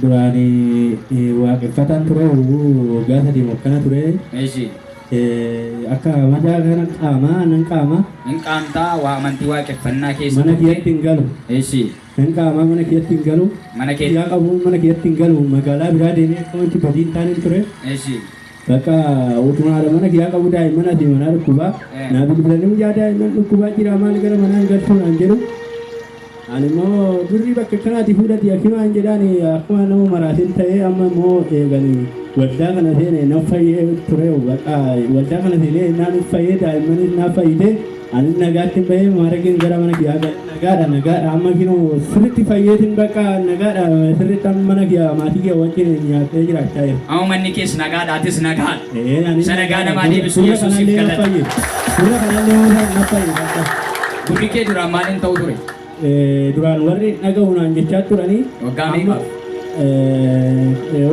Duraan waaqeffataan ture waggaa sadii moo akkana ture. Eeshi. Akka madaa kana qaama nan qaama. Hin qaamtaa waa amantii waaqeffannaa keessa. Mana kiyyatti hin galu. Eeshi. Nan qaama mana kiyyatti hin galu. Mana kee. Yaa qabu mana kiyyatti hin galu magaalaa biraa deemee akkamitti badii hin taane ture. Eeshi. Bakka utuu haadha mana kiyyaa qabu daa'imman asii manaa dhukkubaa naa bilbilanii guyyaa daa'imman dhukkubaa jira maal gara manaa hin galchuu naan jedhu. Ani immoo birrii bakka kanaati fuudhati akkimaa hin jedhaan akkuma nama maraatiin ta'ee amma immoo eeganii waldaa kana seenee na fayyee ture bakka waldaa kana seenee naan fayyee daa'immanis na fayyite. Anis nagaattin bahee maarageen gara mana kiyyaa gale. Nagaadha nagaadha amma kinoo sirriitti fayyeetiin bakka nagaadha sirriitti amma mana kiyyaa maatii kiyya wajjin nyaattee jiraachaa jira. Amma manni kees nagaadha atis nagaan. Ee anis Isa nagaa namaa deebisu Gurra Yesuusiif kanallee na galata. fayye. Gurra kanallee na fayye. Gurri kee duraan maaliin ta'u ture? Duraan warri dhagahu naan jechaa turanii Waggaa meeqaaf?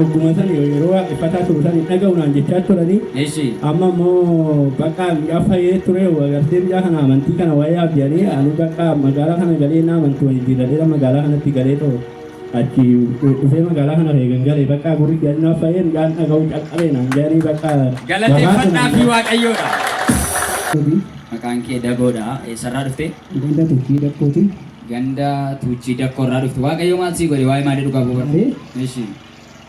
ogguma san yeroo waaqeffataa turu san dhagahu naan jechaa turanii Eshi. amma immoo bakka miidhaa fayyee ture agartee biyyaa kana amantii kana waa'ee abdiyanii ani bakka magaalaa kana galee na amantii waliin jijjiirradheera magaalaa kanatti galee ta'u achi dhufee magaalaa kana eegan galee bakka gurri gannaa fayyee midhaan dhaga'u calqabee naan jedhanii bakka Galateeffannaa fi waaqayyoodha. Maqaan kee dagoodha. Eessarraa dhuftee? Ganda tuchii dakkooti. Ganda tuchii dakkoo irraa dhufte. Waaqayyo maal sii godhe waa'ee maalii dhugaa bu'uura? Maaree. Ishi.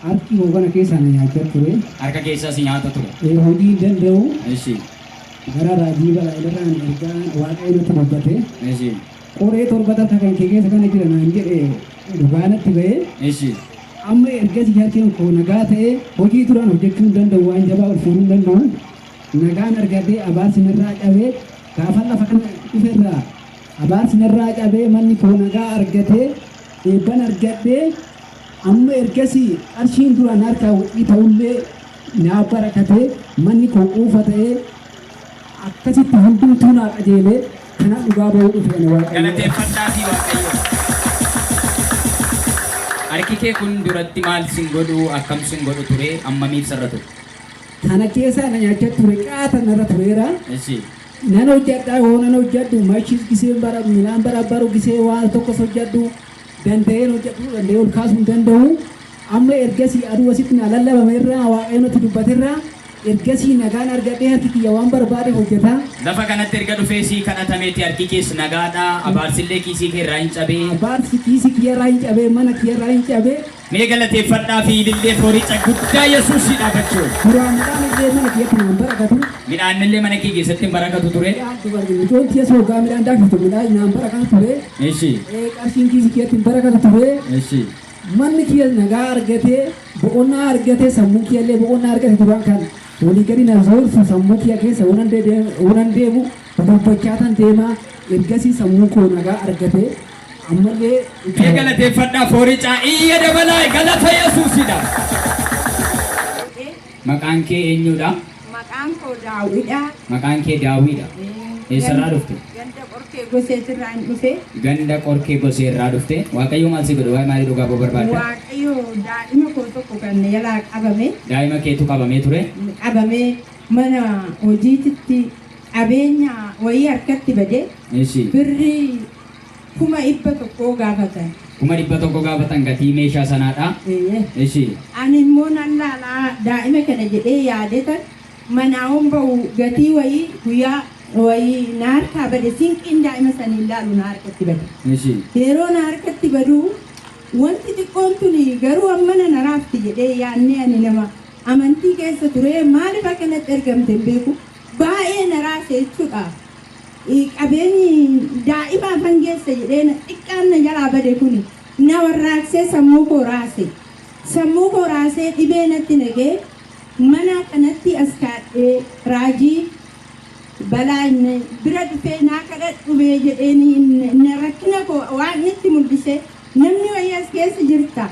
Harki koo kana keessaa na nyaachaa ture. Harka keessaa si nyaata ture. Ee, hojii hin danda'u. Ishi. Gara raajii balaa'ilarraa na ergaa waaqayyo natti dubbate. Ishi. Qoree torba takka kan kee keessa kana jira naan jedhe dhugaa natti ba'ee. Ishi. Amma ergasii harkeen koo nagaa ta'ee hojii turan hojjechuu hin danda'u waan jabaa ol fuudhuu hin danda'u. Nagaan argadhee abaarsi narraa cabee Gaafan lafa kana dhufe irraa abaarsi narraa cabee manni koo nagaa argatee eebban argadhee amma ergasii qarshiin duraan harkaa wixii ta'ullee naa barakatee manni koo quufa ta'ee akkasitti hundumtuu naa qajeelee kana dhugaa ba'uu dhufe ani waaqayyo. Galateeffadhaa fi waaqayyo. Harki kee kun duratti maal sin godhu akkam sin godhu ture ammamiif sarra ture. Kana keessaa na nyaachaa ture qaata narra tureera. Eshi. Nan hojjadha yoo nan hojjadhu mashis giseen bara midhaan barabbaru gisee waan tokkos hojjadhu danda'een hojjadhu danda'ee ol kaasuu hin danda'u. Amma ergasii aduu asitti na lallabame irraa waaqayyoon natti dubbate irraa ergasii nagaan argadhee harki kiyya waan barbaade hojjeta. Lafa kanatti erga dhufee sii kadhatameeti harki kees nagaadha. Abaarsillee kiisii kee irraa hin cabee. Abaarsi kiisii kiyya irraa hin cabee mana kiyya irraa hin cabee. Mee galateeffadhaa fi ilillee fooricha guddaa Yesuusii dhaabachuu. Duraan midhaan illee mana kiyyatti naan barakatu. Midhaan illee mana kee keessatti hin barakatu ture. Midhaan dubarri mucoon tiyya soogaa midhaan daakiftu midhaan naan barakatu ture. Eshi. Ee, Qarshiin kiisi kiyyatti hin barakatu ture. Eshi. Manni kiyya nagaa argatee boqonnaa argatee sammuu kiyya illee boqonnaa argate duraan kan walii gadi na zoorsu sammuu kiyya keessa waan deemu waan deemu dubbachaa tan deemaa ergasii sammuu koo nagaa argatee Ammallee Mee galateeffadhaa fooricaa iyya dabalaa galata Yesuusidha. Godhee Maqaan kee eenyudha? maqaan koo daawwidha. Maqaan kee Daawwiidha. Eessarraa dhufte? Ganda qorkee goseetirraa hin dhufe. Ganda qorkee gosee irraa dhufte. Waaqayyo maal si godhe? Waa'ee maalii dhugaa ba'uu barbaadda? Waaqayyo daa'ima koo tokko kan na jalaa qabame Daa'ima keetu qabamee ture. qabamee mana hojiititti qabeenya wayii harkatti bade Ishii. birrii kuma dhibba tokkoo gaafatan. kuma dhibba tokko gaafatan gatii meeshaa sanaadha. Eeyyee. Ishi. Ani immoo nan laalaa daa'ima kana jedhee yaadetan manaa'oon ba'u gatii wayii guyyaa wayii na harkaa bade sinqiin daa'ima saniin laalu na harkatti bade. Ishi. Yeroo na harkatti badu wanti xiqqoon tuni garuu amma na naraafti jedhee yaannee ani nama amantii keessa ture maaliif akkanatti ergamte hin beeku Baayee na raase jechudha qabeenyi daa'imaaf hangeessa jedhee na xiqqaan na jalaa bade kuni na warraaqsee sammuu koo raase sammuu koo raasee dhibee natti naqee manaa kanattii as kaadhee raajii balaa inni bira dhufee naa kadhadhu mee jedheeni na rakkina koo waaqni itti mul'isee namni wayii as keessa jirta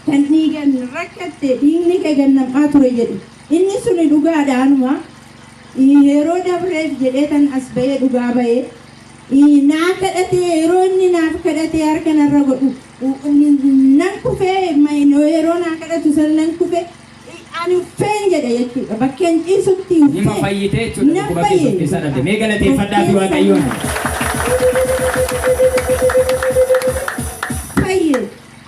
kan dhiigan rakkatte dhiigni kee gannam'aa ture jedhe Inni suni dhugaadha anuma i yeroo dabreef jedhee tan as ba'ee dhugaa ba'e i naa kadhatee yeroo inni naaf kadhatee harka narra godhu nan kufe yeroo naa kadhatu san nan kufe ani uffeen jedhe jechuudha bakkeen ciisutti uffee nima fayyite jechuudha dhukkuba keessa keessa dhabde mee galateeffadhaa fi waaqayyoon fayye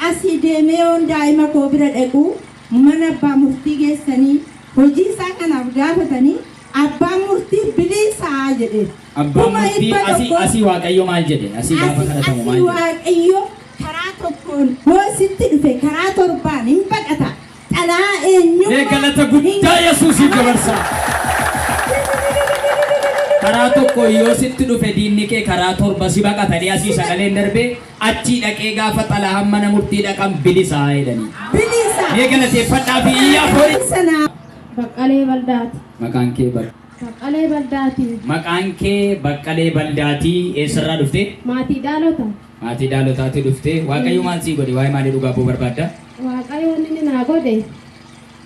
asii deemee yoon daa'ima koo bira dhaqu mana abbaa murtii geessanii hojii isaa kanaaf gaafatanii abbaan murtii biliisaa jedheef. Abbaan Kuma murtii dhibba asii tokko- asii waaqayyo maal jedhe? Asii gaafa kadhatamu maal Asii jedhe? waaqayyo karaa tokkoon yoo sitti dhufe karaa torbaan hin baqata. Dhalaa eenyummaa. Mee galata guddaa Yesuusiif dabarsaa. Karaa tokko yoo sitti dhufe diinni kee karaa torba si baqatanii asii sagaleen darbee Achii dhaqee gaafa xalahaan mana murtii dhaqan bilisa jedhanii. Bilisa! Mee galateeffadhaa fi iyyaa foori. Sana Baqqalee Baldaati. Maqaan kee bar. Baqqalee Baldaati. Maqaan kee Baqqalee Baldaati eessarraa dhufte? Maatii Daalota. Maatii Daalotaati dhufte. Waaqayyo maal sii godhe? Waa'ee maalii dhugaa boo barbaadda? Waaqayyoon inni naa godhe.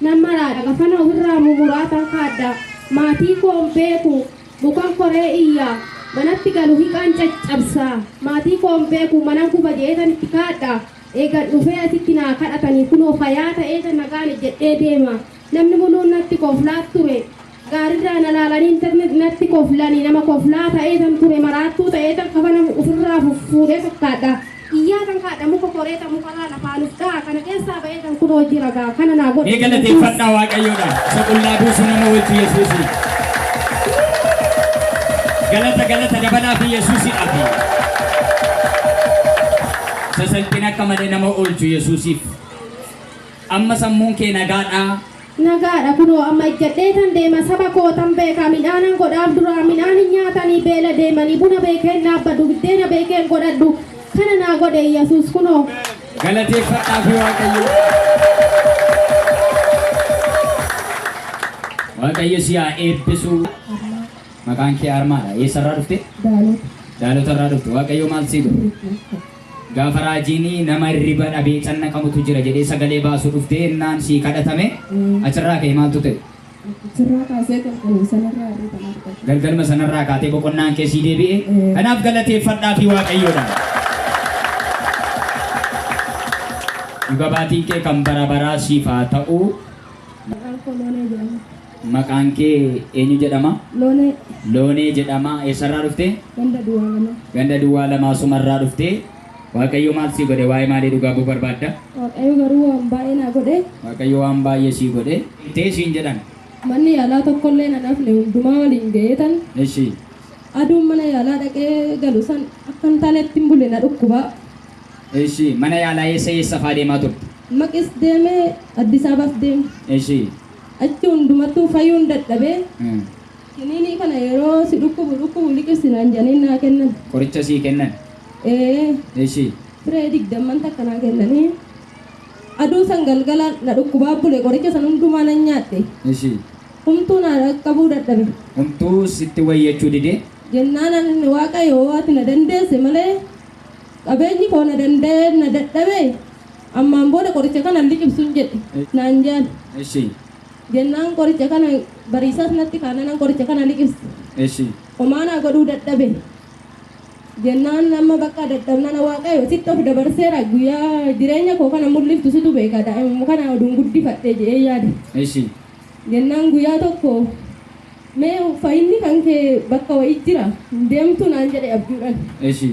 Nan maraadha. Gafana ofirraa mumuraatan kaadda. Maatii koo hin beeku. Mukan koree iyya, manatti galu hiqaan caccabsa, maatii koo hin beeku manan guba jedheetan itti kadhadha, eegan dhufee asitti naa kadhatanii kunoo fayaa ta'eetan nagaan ejjedhee deema. Namni muluun natti koflaa ture. Gaarirraa na laalanii natti koflanii nama koflaa ta'eetan ture maraattuu ta'eetan kafana ufirraa fuffuudhee fakkaadha. Iyyaa kan kaadha muka koree ta mukarraa lafaa nuf dha'a kana keessaa ba'ee kan kun hojii ragaa kana naa godhe. Mee galateeffadhaa Waaqayyoodha. Isa qullaa buusu nama wajji Yesuusi. Galata galata dabalaa fi Yesuusi dhafi. Isa salphina akka malee nama oolchu Yesuusiif. Amma sammuun kee nagaadhaa. Nagaadha kunoo amma ejjadheetan deema saba kootan beeka midhaanan godhaaf duraa midhaan hin nyaatanii beela deemanii buna beekeen dhaabbadhu biddeena beekeen godhadhu kana naa godhe yesuus kunoo Galateeffadhaa fi Waaqayyo. Waaqayyo si haa eebbisu. Maqaan kee Armaadha. Eessarraa dhufte? Daalota irraa dhufte. Waaqayyo maal sii godhe? Gaafa raajiin nama irriba dhabee cannaqamutu jira jedhee sagalee baasu dhuftee ennaan sii kadhatame achirraa ka'e maaltu ta'e? Achirraa kaasee galgaluma sanarraa irriban argate. Galgaluma sanarraa kaatee boqonnaan kee sii deebi'e. Kanaaf galateeffadhaa fi waaqayyoodhaan. Dhuga baatiin kee kan bara baraa siif haa ta'u. Maqaan koo Loonee jedhama. Maqaan kee eenyu jedhama? Loonee. Loonee jedhama. Eessarraa dhufte? Ganda duwwaa lama. Ganda duwwaa lama asumarraa dhufte. Waaqayyo maal sii godhe? Waa'ee maalii dhugaa ba'uu barbaadda? Waaqayyo garuu waan baay'ee naa godhe. Waaqayyo waan baay'ee sii godhe. Tee siin jedhan. Manni yaalaa tokkollee nan hafne hundumaa waliin ga'eetan. Eshi. Aduun mana yaalaa dhaqee galu san akka hin taanetti hin bule na dhukkuba. Eshi. Mana yaalaa eessa eessa faa deemaa turte? Maqis deeme Addis Ababaas deeme. Eshi. Achi hundumattuu fayyuun dadhabee kiniinii kana yeroo si dhukkubu dhukkubu liqirsi naan jedhanii naa kennan. Qoricha sii kennan? Ee. Eshi. Firee digdamman takka naa kennanii aduu san galgala na dhukkubaa bule qoricha san hundumaa nan nyaadhe. Eshi. Humtuu naa dhaqqabuu dadhabe. Humtuu sitti wayyachuu didee? Jennaan an Waaqayyo hoo ati na dandeesse malee qabeenyi koo na danda'ee na dadhabee? Ammaan booda qoricha kana hin liqimsun jedhe naan jaan. Eshi. Jennaan qoricha kana bariisaas natti kaananan qoricha kana liqimse. Eshi. Homaa naa godhuu dadhabe. Jennaan amma bakka dadhabnana waaqayyo sitti of dabarseera guyyaa jireenya koo kana mul'iftu situ beeka daa'imuma kana oduun guddifadhe jedhee yaade. Eshi. Jennaan guyyaa tokko mee fayyinni kan kee bakka wayii jira hin deemtu naan jedhe abjuudhan. Eshi.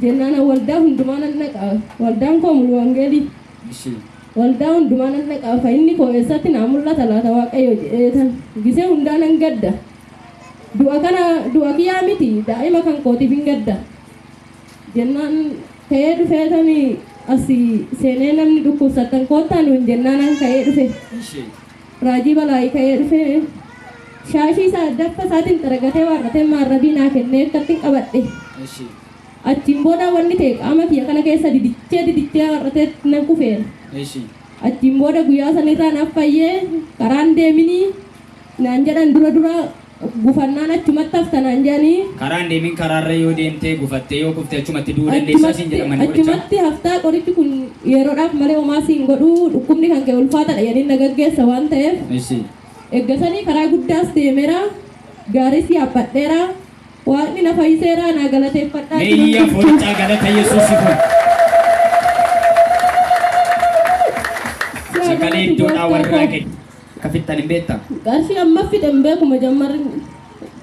Jennaan an waldaa hundumaa nan dhaqa, waldaan koo mulu wangeelii? Gise. Waldaa hundumaa nan dhaqa, fayyinni koo eessatti naa mul'ata laata Waaqayyo? jedheetan gise hundaa nan gadda. Du'a kana du'a kiyyaa miti, daa'ima kan kootiifin gadda. Jennaan ka'ee dhufeetan asi seenee namni dhukkubsattan koottaa nuun jennaan an ka'ee dhufe. Gise. Raajii Balaayi ka'ee dhufee shaashii isaa addatta isaatiin xaragatee waarratee maarrabii naa kennee akkattiin qabadhe. Eshi. Achiin booda wanni ta'e qaama kiyya kana keessa didichee didichee waarratee nan kufeera. Eshi. Achiin booda guyyaa sanirraa naaf fayyee karaan deeminii naan jedhan dura dura gufannaan achumatti hafta naan jedhanii. Karaa hin deemin karaarra yoo deemte gufattee yoo kufte achumatti du'uu dandeessaa siin jedhan manni qorichaa. Achumatti haftaa qorichi kun yeroodhaaf malee homaa siin godhu dhukkubni kan kee ulfaataadha jedhanii na gaggeessa waan ta'eef. Ishii. Eggasanii karaa guddaas deemeera gaariis yaabbadheera waaqni na fayyiseera naa galateeffadhaa. Mee iyya fooccaa galata Yesuusi kun. Sagalee iddoodhaa warra kee. Akka fixxan hin beektaa? Qarshii amma fide hin beeku majammarri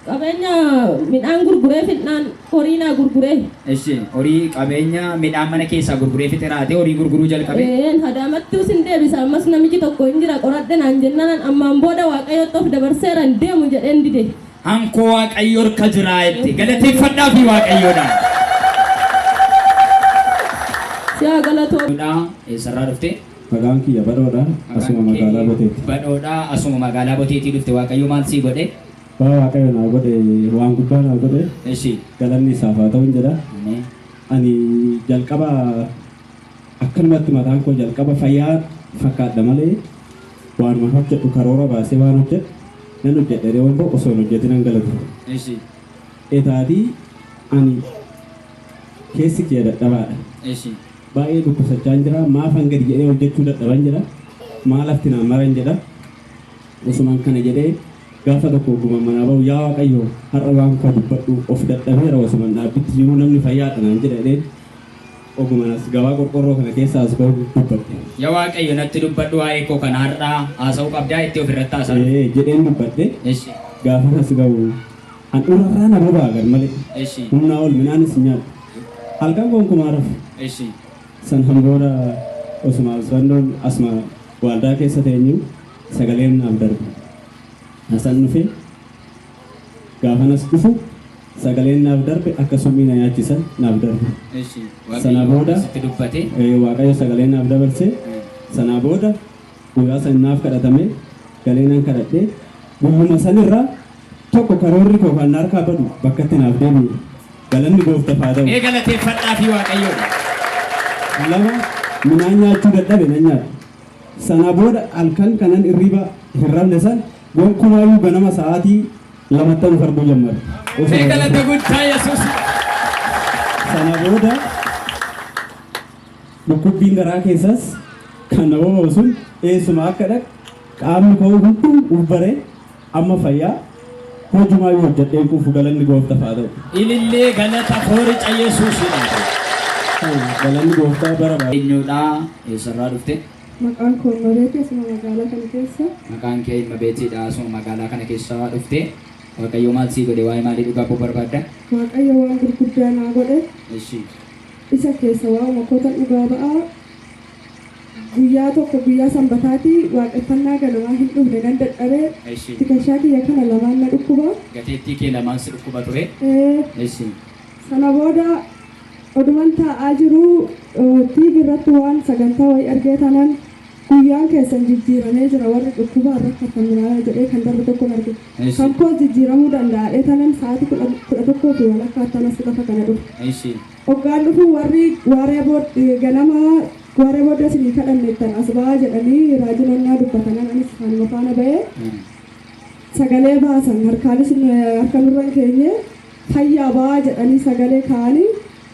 qabeenya midhaan gurguree fidnaan horii naa gurguree. Eshi horii qabeenya midhaan mana keessaa gurguree fixe raatee horii gurguruu jalqabe. Een hadaamatti usin deebisa ammas namichi tokko hin jira qoradhe naan jennaan ammaan booda waaqayyotti of dabarseera hin deemu jedheen dide. Ankoo waaqayyo harka jiraa jette galateeffadhaa fi waaqayyoodha. Siyaa galatoo. Dudhaa eessarraa dhuftee? Maqaan kiyya Badhoodha. Asuma Maqaan kee magaalaa Boteetti. Badhoodha. Asuma magaalaa Boteetii dhufte. Waaqayyo maal sii godhe? Waa Waaqayyo naa godhe waan guddaa naa godhe Eshi. galanni isaaf haa ta'uun jedha. Ameen. Ani jalqaba akkanumatti mataan koo jalqaba fayyaa fakkaadha malee waanuma hojjedhu karoora baasee waan hojjedhu nan hojjedhe reewwan ba'u osoo hin hojjetin nan galatu. Eshi. Etaatii ani Keessi kiyya dadhabaadha. Eshi. Baay'ee dhukkubsachaan jira. Maafan gadi jedhee hojjechuu dadhaban jedha. Maa lafti naa maran jedha. Osuman kana jedhee gaafa tokko oguman manaa ba'u yaa Waaqayyo har'a waan koo dubbadhu of dadhabeera osuman dhaabbitti jiruu namni fayyaadha naan jedha jedheen oguman as gabaa qorqorroo kana keessa as ba'u dubbadhe. Ya Waaqayyo natti dubbadhu waa'ee koo kana har'aa haasa'uu qabdaa jettee ofirratti haasa'uu. Ee jedheen dubbadhe. Eshi. Gaafan as ga'u Handhuura irraa na boba'a garmalee. Eshi. Humnaa ol midhaanis hin nyaadhu. Halkan gonkumaa hin rafu. Eshi. Sanhan booda osuma Usrandoon asuma waaldaa keessa teenyu sagaleen naaf darbe. Hasan dhufe. Gaafanas dhufu sagaleen naaf darbe akka summii na nyaachisan naaf darbe. Eshi. Sana Waaqayyo booda sitti dubbate. ee, Waaqayyo sagalee naaf dabarse. Sanaa booda Guyyaa san naaf kadhatame, galee nan kadhadhe. Guyyuma san irra tokko karoorri koo kan na harkaa badu bakkatti naaf deebi'e. Galanni Gooftaf haa ta'u. Mee galateeffadhaafii Waaqayyoon. 2, Midhaan nyaachuu dadhabe nan nyaadhe. Sanaa booda halkan kanan irriiba hin rafne san gonkumaayyuu ganama sa'aatii lamattan of arguu jammare. Mee Osoo hin galata rafin. guddaa Yesuus. Sana booda Dhukkubbiin garaa keessaas kan na boba'u sun eessuma akka dhaqu qaamni koo hunduu uf baree amma fayyaa hojumaayyuu hojjedhee hin quufu galanni gooftaf haa ta'u. Ilillee galata foorica Yesuusiidhaaf. Galanni gooftaa bara bara. Eenyuudha? Eessarraa dhufte? Maqaan koo Immabeetii asuma magaalaa kana keessa. Maqaan kee Immabeetiidha asuma magaalaa kana keessa dhufte. Waaqayyo maal sii godhe? Waa'ee maalii dhugaa ba'uu barbaadda? Waaqayyo waan gurguddaa naa godhe. Eshi. isa keessa waa'u makota dhugaa ba'aa guyyaa tokko guyyaa sanbataati waaqeffannaa ganamaa hin dhufne nan dadhabe Eshi. tikashaa kiyya kana lamaan na dhukkuba Gateettii kee lamaan si dhukkuba ture. ee, Eshi. sana booda oduman taa'aa jiru eh, TV irratti waan sagantaa wayii argee tanan Guyyaan keessan jijjiiramee jira warri dhukkubaan rakkattan minaalaa jedhee kan darbe tokkon arge. Eshi. Kan koos jijjiiramuu danda'a etanan sa'aatii kudha kudha tokkoo fi walakkaattan as lafa kana dhufe. Eshi. Hoggaan dhufu warri waaree bood ganama waaree booda isinii kadhanneettan as ba'aa jedhanii raajiin onnaa dubbatanan anis kanuma faana ba'ee sagalee baasan harkaanis nu- harka nurra hin keenye fayyaa ba'aa jedhanii sagalee kaa'anii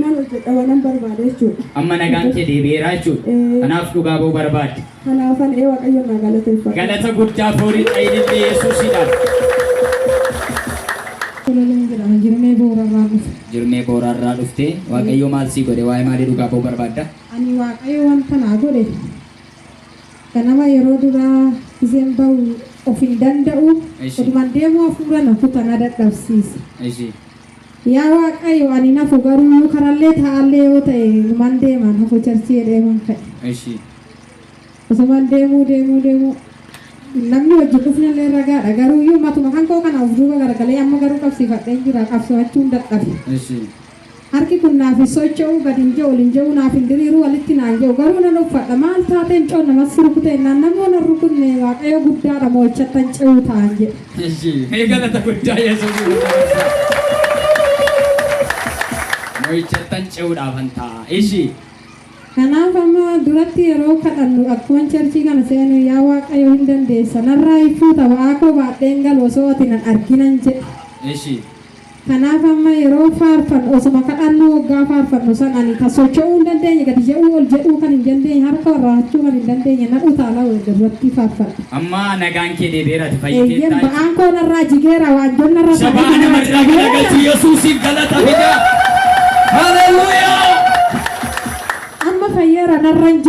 Nan hojjedha wanan barbaade jechuudha. Amma nagaan kee deebi'eera jechuudha. Ee. Kanaaf dhugaa ba'uu barbaadde. Kanaafan ee Waaqayyoon naa galateeffadha. Galata guddaa foorii xayilillee Yesuusiidhaaf. Tololeen jedhama jirmee boorarraa dhufe. Jirmee booraarraa dhuftee Waaqayyoo maal sii godhe waa'ee maalii dhugaa ba'uu barbaadda? Ani waaqayyo wanta naa godhe ganama yeroo duraa gizeen ba'u of hin danda'u Eshi. otuman deemuu hafuura na kuta na dadhabsiisa. Ishii. Yaa waaqqayo ani hin hafu garuuyuu karallee taa'allee yoo ta'e numan deema hin hafu charchii jedheeman ka'e. Eshii. Osuman deemuu deemuu deemuu namni wajjin dhufnellee ragaadha garuuyuu matuma kankoo kana of duuba garagalee amma garuu qabsiifadheen jira qabsoo'achuun dadhabe. Eshii. Harki kun naaf hin socho'u gad hin je'u ol hin je'u naaf hin diriiru walitti naa hin je'u garuu nan uffadha maal taatee mucoon namas si rukutee jennaan nammoo nan rukutne waaqayyo guddaadha moo'ichattan ce'uu ta'an jedhe. Eshi, mee galata guddaa Yesuusiif nu dabarsaa. Mo'ichattan ce'uudhaafan ta'a. Eshi, Kanaaf amma duratti yeroo kadhannu akkuman charchii kana seenu yaa Waaqayyo hin dandeessa narraa hin fuuta ba'aa koo baadheen galu osoo ati nan arginan jedhe. eshi, Kanaaf amma yeroo faarfannu osoma kadhannuu woggaa faarfannu san ani ka socho'uu hin dandeenye gadi je'uu ol je'uu kan hin dandeenye harka ol raahachuu kan hin dandeenye na utaala wogga durattii faarfadhu. Amma nagaan kee deebi'eera ati Eeyyeen fayyiteetta. ba'aan koo narraa jigeera waanjoon narra Shabaa taa'ee nama irraa jira galchi jigeera. Yesuusiif galata fidaa. Haleluuyaa! Amma fayyeera narra hin jiru.